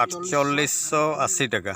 ᱟᱴᱪᱚᱞᱞᱤᱥ ᱥᱚ ᱟᱥᱤ ᱴᱟᱠᱟ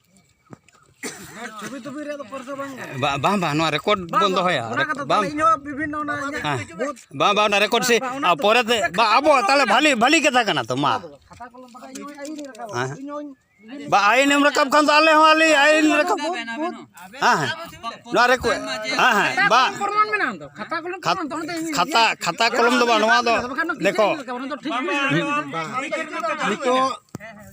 ᱵᱟᱝ ᱵᱟᱝ ᱱᱚᱣᱟ ᱨᱮᱠᱚᱨᱰ ᱵᱚᱱ ᱫᱚᱦᱚᱭᱟ ᱵᱟᱝ ᱵᱟᱝ ᱵᱟᱝ ᱚᱱᱟ ᱨᱮᱠᱚᱨᱰ ᱥᱮ ᱯᱚᱨᱮᱛᱮ ᱵᱟᱝ ᱟᱵᱚ ᱛᱟᱦᱚᱞᱮ ᱵᱷᱟᱞᱤ ᱵᱷᱟᱞᱤ ᱠᱟᱛᱷᱟ ᱠᱟᱱᱟ ᱛᱚ ᱢᱟ ᱵᱟ ᱟᱭᱤᱱ ᱮᱢ ᱨᱟᱠᱟᱵ ᱠᱷᱟᱱ ᱫᱚ ᱟᱞᱮ ᱦᱚᱸ ᱟᱞᱮ ᱟᱭᱤᱱ ᱨᱟᱠᱟᱵ ᱦᱮᱸ ᱦᱮᱸ ᱱᱚᱣᱟ ᱨᱮ ᱦᱮᱸ ᱦᱮᱸ ᱵᱟ ᱠᱷᱟᱛᱟ ᱠᱷᱟᱛᱟ ᱠᱚᱞᱚᱢ ᱫᱚ ᱵᱟᱝ ᱱᱚᱣᱟ ᱫᱚ ᱫᱮᱠᱷᱚ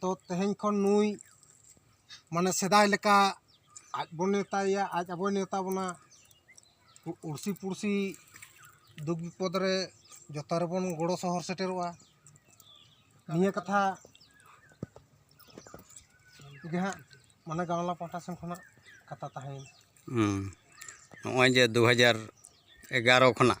ᱛᱚ ᱛᱮᱦᱮᱧ ᱠᱷᱚᱱ ᱱᱩᱭ ᱢᱟᱱᱮ ᱥᱮᱫᱟᱭ ᱞᱮᱠᱟ ᱟᱡ ᱵᱚᱱ ᱱᱮᱣᱛᱟᱭᱮᱭᱟ ᱟᱡ ᱟᱵᱚᱭ ᱱᱮᱣᱛᱟ ᱵᱚᱱᱟ ᱩᱲᱥᱤ ᱯᱩᱲᱥᱤ ᱫᱩᱠ ᱵᱤᱯᱚᱫ ᱨᱮ ᱡᱚᱛᱚ ᱨᱮᱵᱚᱱ ᱜᱚᱲᱚ ᱥᱚᱦᱚᱨ ᱥᱮᱴᱮᱨᱚᱜᱼᱟ ᱱᱤᱭᱟᱹ ᱠᱟᱛᱷᱟ ᱜᱮ ᱦᱟᱸᱜ ᱢᱟᱱᱮ ᱜᱟᱶᱞᱟ ᱯᱟᱦᱴᱟ ᱥᱮᱱ ᱠᱷᱚᱱᱟᱜ ᱠᱟᱛᱷᱟ ᱛᱟᱦᱮᱸᱭᱮᱱᱟ ᱦᱮᱸ ᱱᱚᱜᱼᱚᱭ ᱡᱮ ᱫᱩ ᱦᱟᱡᱟᱨ ᱮᱜᱟᱨᱚ ᱠᱷᱚᱱᱟᱜ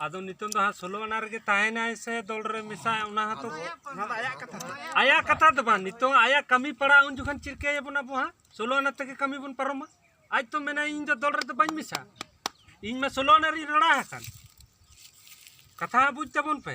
ᱟᱫᱚ ᱱᱤᱛᱚᱝ ᱫᱚ ᱦᱟᱸᱜ ᱥᱳᱞᱳ ᱟᱱᱟ ᱨᱮᱜᱮ ᱛᱟᱦᱮᱱᱟᱭ ᱥᱮ ᱫᱚᱞ ᱨᱮ ᱢᱮᱥᱟᱭ ᱚᱱᱟ ᱦᱚᱸᱛᱚ ᱟᱭᱟᱜ ᱠᱟᱛᱷᱟ ᱫᱚ ᱵᱟᱝ ᱱᱤᱛᱚᱝ ᱟᱭᱟᱜ ᱠᱟᱹᱢᱤ ᱯᱟᱲᱟᱜ ᱩᱱ ᱡᱚᱠᱷᱚᱱ ᱪᱤᱠᱟᱹᱭᱟᱵᱚᱱ ᱟᱵᱚ ᱦᱟᱸᱜ ᱥᱳᱞᱳ ᱟᱱᱟ ᱛᱮᱜᱮ ᱠᱟᱹᱢᱤ ᱵᱚᱱ ᱯᱟᱨᱚᱢᱟ ᱟᱡ ᱛᱚ ᱢᱮᱱᱟᱭ ᱤᱧ ᱫᱚ ᱫᱚᱞ ᱨᱮᱫᱚ ᱵᱟᱹᱧ ᱢᱮᱥᱟ ᱤᱧ ᱢᱟ ᱥᱳᱞᱳ ᱟᱱᱟ ᱨᱤᱧ ᱨᱚᱲᱟ ᱟᱠᱟᱱ ᱠᱟᱛᱷᱟ ᱵᱩᱡᱽ ᱛᱟᱵᱚᱱ ᱯᱮ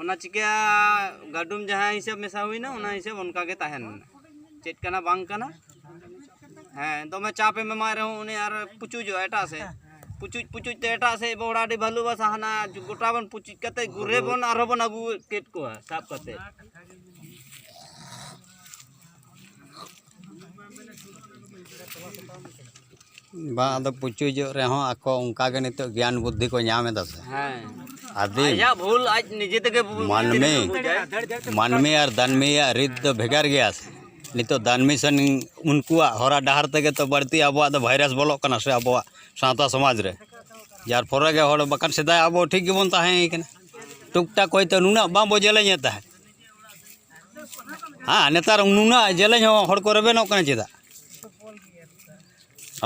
ᱚᱱᱟ ᱪᱤᱠᱟᱹ ᱜᱟᱹᱰᱩᱢ ᱡᱟᱦᱟᱸ ᱦᱤᱥᱟᱹᱵ ᱢᱮᱥᱟ ᱦᱩᱭᱱᱟ ᱚᱱᱟ ᱦᱤᱥᱟᱹᱵ ᱚᱱᱠᱟ ᱜᱮ ᱛᱟᱦᱮᱱ ᱪᱮᱫ ᱠᱟᱱᱟ ᱵᱟᱝ ᱠᱟᱱᱟ ᱦᱮᱸ ᱫᱚᱢᱮ ᱪᱟᱯ ᱮᱢ ᱮᱢᱟᱭ ᱨᱮᱦᱚᱸ ᱩᱱᱤ ᱟᱨ ᱯᱩᱪᱩᱡᱚᱜᱼᱟ ᱮᱴᱟᱜ ᱥᱮᱫ ᱯᱩᱪᱩᱡ ᱯᱩᱪᱩᱡ ᱛᱮ ᱮᱴᱟᱜ ᱥᱮᱫ ᱵᱚᱲᱟ ᱟᱹᱰᱤ ᱵᱷᱟᱞᱩ ᱵᱟᱥᱟ ᱦᱟᱱᱟ ᱜᱚᱴᱟ ᱵᱚᱱ ᱯᱩᱪᱩᱡ ᱠᱟᱛᱮ ᱜᱩᱨᱮ ᱵᱚᱱ ᱟᱨᱦᱚᱸ ᱵᱚᱱ ᱟᱹᱜᱩ ᱠᱮᱫ ᱠᱚᱣᱟ ᱥᱟᱵ ᱠᱟᱛᱮ ᱵᱟᱝ ᱟᱫᱚ ᱯᱩᱪᱩᱡᱚᱜ ᱨᱮᱦᱚᱸ ᱟᱠᱚ ᱚᱱᱠᱟ ᱜᱮ ᱱᱤᱛᱚᱜ ᱜᱮᱭᱟᱱ ᱵᱩᱫᱽᱫᱷᱤ ᱠᱚ ᱧᱟᱢ ᱮᱫᱟ ᱥᱮ ᱟᱹᱫᱤᱢ ᱟᱭᱟᱜ ᱵᱷᱩᱞ ᱟᱡ ᱱᱤᱡᱮ ᱛᱮᱜᱮ ᱵᱩᱡᱽ ᱢᱟᱹᱱᱢᱤ ᱢᱟᱹᱱᱢᱤ ᱟᱨ ᱫᱟᱹᱱᱢᱤᱭᱟᱜ ᱨᱤᱛ ᱫᱚ ᱵᱷᱮᱜᱟᱨ ᱜᱮᱭᱟ ᱥᱮ ᱱᱤᱛᱚᱜ ᱫᱟᱹᱱᱢᱤ ᱥᱮᱱ ᱩᱱᱠᱩᱣᱟᱜ ᱦᱚᱨᱟ ᱰᱟᱦᱟᱨ ᱛᱮᱜᱮ ᱛᱚ ᱵᱟᱹᱲᱛᱤ ᱟᱵᱚᱣᱟᱜ ᱫᱚ ᱵᱷᱟᱭᱨᱟᱥ ᱵᱚᱞᱚᱜ ᱠᱟᱱᱟ ᱥᱮ ᱟᱵᱚᱣᱟᱜ ᱥᱟᱶᱛᱟ ᱥᱚᱢᱟᱡᱽ ᱨᱮ ᱡᱟᱨ ᱯᱷᱚᱞᱮ ᱜᱮ ᱦᱚᱲ ᱵᱟᱠᱷᱟᱱ ᱥᱮᱫᱟᱭ ᱟᱵᱚ ᱴᱷᱤᱠ ᱜᱮᱵᱚᱱ ᱛᱟᱦᱮᱸᱭ ᱠᱟᱱᱟ ᱴᱩᱠ ᱴᱟᱠ ᱦᱚᱭᱛᱳ ᱱᱩᱱᱟᱹᱜ ᱵᱟᱵᱚ ᱡᱮᱞᱮᱧᱮᱫ ᱛᱟᱦᱮᱸᱫ ᱦᱮᱸ ᱱᱮᱛᱟᱨ ᱱᱩᱱᱟᱹᱜ ᱡᱮᱞᱮᱧ ᱦᱚᱸ ᱦᱚᱲ ᱠᱚ ᱨᱮᱵᱮᱱᱚᱜ ᱠᱟᱱᱟ ᱪᱮᱫᱟᱜ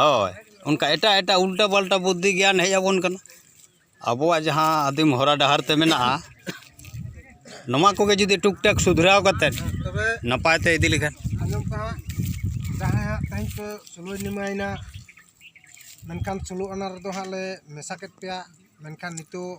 ᱦᱳᱭ ᱚᱱᱠᱟ ᱮᱴᱟᱜ ᱮᱴᱟᱜ ᱩᱞᱴᱟᱹ ᱯᱟᱞᱴᱟ ᱵᱩᱫᱽᱫᱷᱤ ᱜᱮᱭᱟᱱ ᱦᱮᱡ ᱟᱵᱚᱱ ᱠᱟᱱᱟ ᱟᱵᱚᱣᱟᱜ ᱡᱟᱦᱟᱸ ᱟᱹᱫᱤᱢ ᱦᱚᱨᱟ ᱰᱟᱦᱟᱨ ᱛᱮ ᱢᱮᱱᱟᱜᱼᱟ ᱱᱚᱣᱟ ᱠᱚᱜᱮ ᱡᱩᱫᱤ ᱴᱩᱠ ᱴᱟᱠ ᱥᱩᱫᱷᱨᱟᱣ ᱠᱟᱛᱮᱫ ᱱᱟᱯᱟᱭ ᱛᱮ ᱤᱫᱤ ᱞᱮᱠᱷᱟᱱ ᱟᱸᱡᱚᱢ ᱠᱟᱜᱼᱟ ᱡᱟᱦᱟᱸᱭᱟᱜ ᱛᱮᱦᱮᱧ ᱠᱚ ᱥᱳᱞᱳᱭ ᱱᱤᱢᱟᱭᱮᱱᱟ ᱢᱮᱱᱠᱷᱟᱱ ᱥᱳᱞᱳ ᱟᱱᱟ ᱨᱮᱫᱚ ᱦᱟᱸᱜ ᱞᱮ ᱢᱮᱥᱟ ᱠᱮᱫ ᱯᱮᱭᱟ ᱢᱮᱱᱠᱷᱟᱱ ᱱᱤᱛᱚᱜ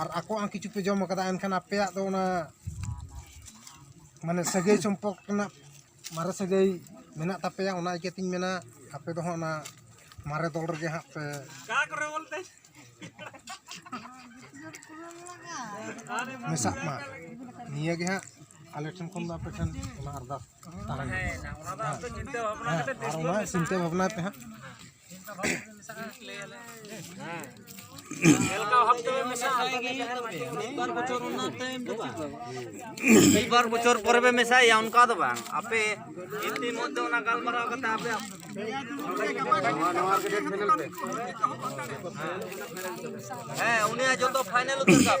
ᱟᱨ ᱟᱠᱚᱣᱟᱜ ᱦᱚᱸ ᱠᱤᱪᱷᱩ ᱯᱮ ᱡᱚᱢ ᱠᱟᱫᱟ ᱮᱱᱠᱷᱟᱱ ᱟᱯᱮᱭᱟᱜ ᱫᱚ ᱚᱱᱟ ᱢᱟᱱᱮ ᱥᱟᱹᱜᱟᱹᱭ ᱥᱚᱢᱯᱚᱨᱠ ᱨᱮᱱᱟᱜ ᱢᱟᱨᱮ ᱥᱟᱹᱜᱟᱹᱭ ᱢᱮᱱᱟᱜ ᱛᱟᱯᱮᱭᱟ ᱚᱱᱟ ᱤᱭᱠᱟᱹᱛᱤᱧ ᱢᱮᱱᱟ ᱟᱯᱮ ᱫᱚ ᱦᱟᱸᱜ ᱚᱱᱟ ᱢᱟᱨᱮ ᱫᱚᱞ ᱨᱮᱜᱮ ᱦᱟᱸᱜ ᱯᱮ ᱢᱮᱥᱟᱜ ᱢᱟ ᱱᱤᱭᱟᱹ ᱜᱮ ᱦᱟᱸᱜ ᱟᱞᱮ ᱴᱷᱮᱱ ᱠᱷᱚᱱ ᱫᱚ ᱟᱯᱮ ᱴᱷᱮᱱ ᱚᱱᱟ ᱟᱨᱫᱟᱥ ᱛᱟᱦᱮᱱᱟ ᱟᱨ ᱚᱱᱟ ᱪᱤᱱᱛᱟᱹ ᱵᱷᱟᱵᱽᱱᱟᱭ ᱯᱮ ᱦᱟᱸᱜ ᱢᱤᱫᱵᱟᱨ ᱵᱚᱪᱷᱚᱨ ᱯᱚᱨᱮ ᱯᱮ ᱢᱮᱥᱟᱭᱟ ᱚᱱᱠᱟ ᱫᱚ ᱵᱟᱝ ᱟᱯᱮ ᱤᱛᱤ ᱢᱚᱫᱽᱫᱷᱮ ᱚᱱᱟ ᱜᱟᱞᱢᱟᱨᱟᱣ ᱠᱟᱛᱮ ᱟᱯᱮ ᱦᱮᱸ ᱩᱱᱤᱭᱟᱜ ᱡᱚᱛᱚ ᱯᱷᱟᱭᱱᱮᱞ ᱩᱛᱟᱹᱨ ᱠᱟᱜ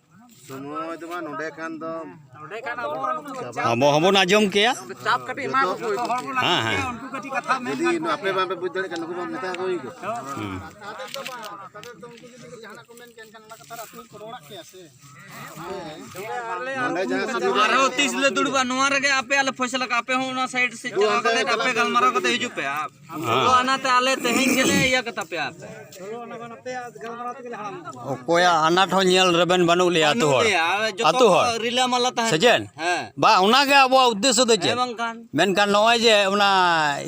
ᱟᱵᱚ ᱦᱚᱸᱵᱚᱱ ᱟᱸᱡᱚᱢ ᱠᱮᱭᱟ ᱦᱮᱸ ᱦᱮᱸ ᱟᱨᱦᱚᱸ ᱛᱤᱥ ᱞᱮ ᱫᱩᱲᱩᱵᱟ ᱱᱚᱣᱟ ᱨᱮᱜᱮ ᱟᱯᱮ ᱟᱞᱮ ᱯᱷᱚᱭᱥᱟᱞᱟ ᱠᱟᱜᱼᱟ ᱟᱯᱮ ᱦᱚᱸ ᱚᱱᱟ ᱥᱟᱭᱤᱰ ᱥᱮᱫ ᱪᱟᱞᱟᱣ ᱠᱟᱛᱮ ᱟᱯᱮ ᱜᱟᱞᱢᱟᱨᱟᱣ ᱠᱟᱛᱮ ᱦᱤᱡᱩᱜ ᱯᱮ ᱚᱠᱚᱭᱟᱜ ᱟᱱᱟᱴ ᱦᱚᱸ ᱧᱮᱞ ᱨᱮᱵᱮᱱ ᱵᱟᱹᱱᱩᱜ ᱞᱮᱭᱟ ᱟᱛᱳ ᱦᱚᱲ ᱟᱛᱳ ᱦᱚᱲ ᱨᱤᱞᱟᱹᱢᱟᱞᱟ ᱛᱟᱦᱮᱸ ᱥᱮᱪᱮᱫ ᱵᱟ ᱚᱱᱟᱜᱮ ᱟᱵᱚᱣᱟᱜ ᱩᱫᱽᱫᱮᱥᱥᱚ ᱫᱚ ᱪᱮᱫ ᱢᱮᱱᱠᱷᱟᱱ ᱱᱚᱜᱼᱚᱭ ᱡᱮ ᱚᱱᱟ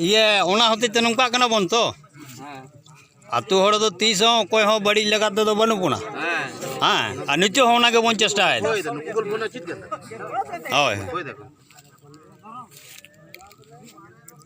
ᱤᱭᱟᱹ ᱚᱱᱟ ᱦᱚᱛᱮᱡ ᱛᱮ ᱱᱚᱝᱠᱟᱜ ᱠᱟᱱᱟ ᱵᱚᱱ ᱛᱚ ᱟᱛᱳ ᱦᱚᱲ ᱫᱚ ᱛᱤᱥ ᱦᱚᱸ ᱚᱠᱚᱭ ᱦᱚᱸ ᱵᱟᱹᱲᱤᱡ ᱞᱮᱠᱟ ᱛᱮᱫᱚ ᱵᱟᱹᱱᱩᱜ ᱵᱚᱱᱟ ᱦᱮᱸ ᱟᱨ ᱱᱤᱛᱚᱜ ᱦᱚᱸ ᱚᱱᱟᱜᱮ ᱵᱚᱱ ᱪᱮᱥᱴᱟᱭᱮᱫᱟ ᱦᱳᱭ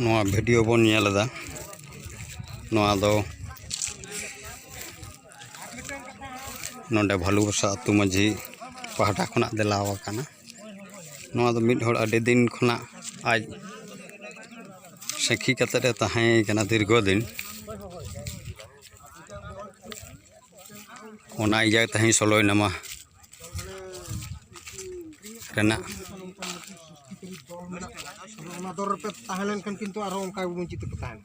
ᱱᱚᱣᱟ ᱵᱷᱤᱰᱤᱭᱳ ᱵᱚᱱ ᱧᱮᱞ ᱮᱫᱟ ᱱᱚᱣᱟ ᱫᱚ ᱱᱚᱰᱮ ᱵᱷᱟᱹᱞᱩ ᱵᱚᱥᱟ ᱟᱹᱛᱩ ᱢᱟᱹᱡᱷᱤ ᱯᱟᱦᱴᱟ ᱠᱷᱚᱱᱟᱜ ᱫᱮᱞᱟᱣ ᱟᱠᱟᱱᱟ ᱱᱚᱣᱟ ᱫᱚ ᱢᱤᱫ ᱦᱚᱲ ᱟᱹᱰᱤ ᱫᱤᱱ ᱠᱷᱚᱱᱟᱜ ᱟᱡ ᱥᱟᱹᱠᱷᱤ ᱠᱟᱛᱮᱫ ᱮ ᱛᱟᱦᱮᱸ ᱠᱟᱱᱟ ᱫᱤᱨᱜᱷᱚ ᱫᱤᱱ ᱚᱱᱟ ᱤᱭᱟᱹ ᱛᱮᱦᱮᱧ ᱥᱳᱞᱳᱭ ᱱᱟᱢᱟ ᱨᱮᱱᱟᱜ ᱚᱱᱟ ᱫᱚᱨ ᱨᱮᱯᱮ ᱛᱟᱦᱮᱸ ᱞᱮᱱᱠᱷᱟᱱ ᱠᱤᱱᱛᱩ ᱟᱨᱦᱚᱸ ᱚᱱᱠᱟ ᱜᱮᱵᱚᱱ ᱪᱤᱠᱟᱹᱛᱮ ᱛᱟᱦᱮᱱᱟ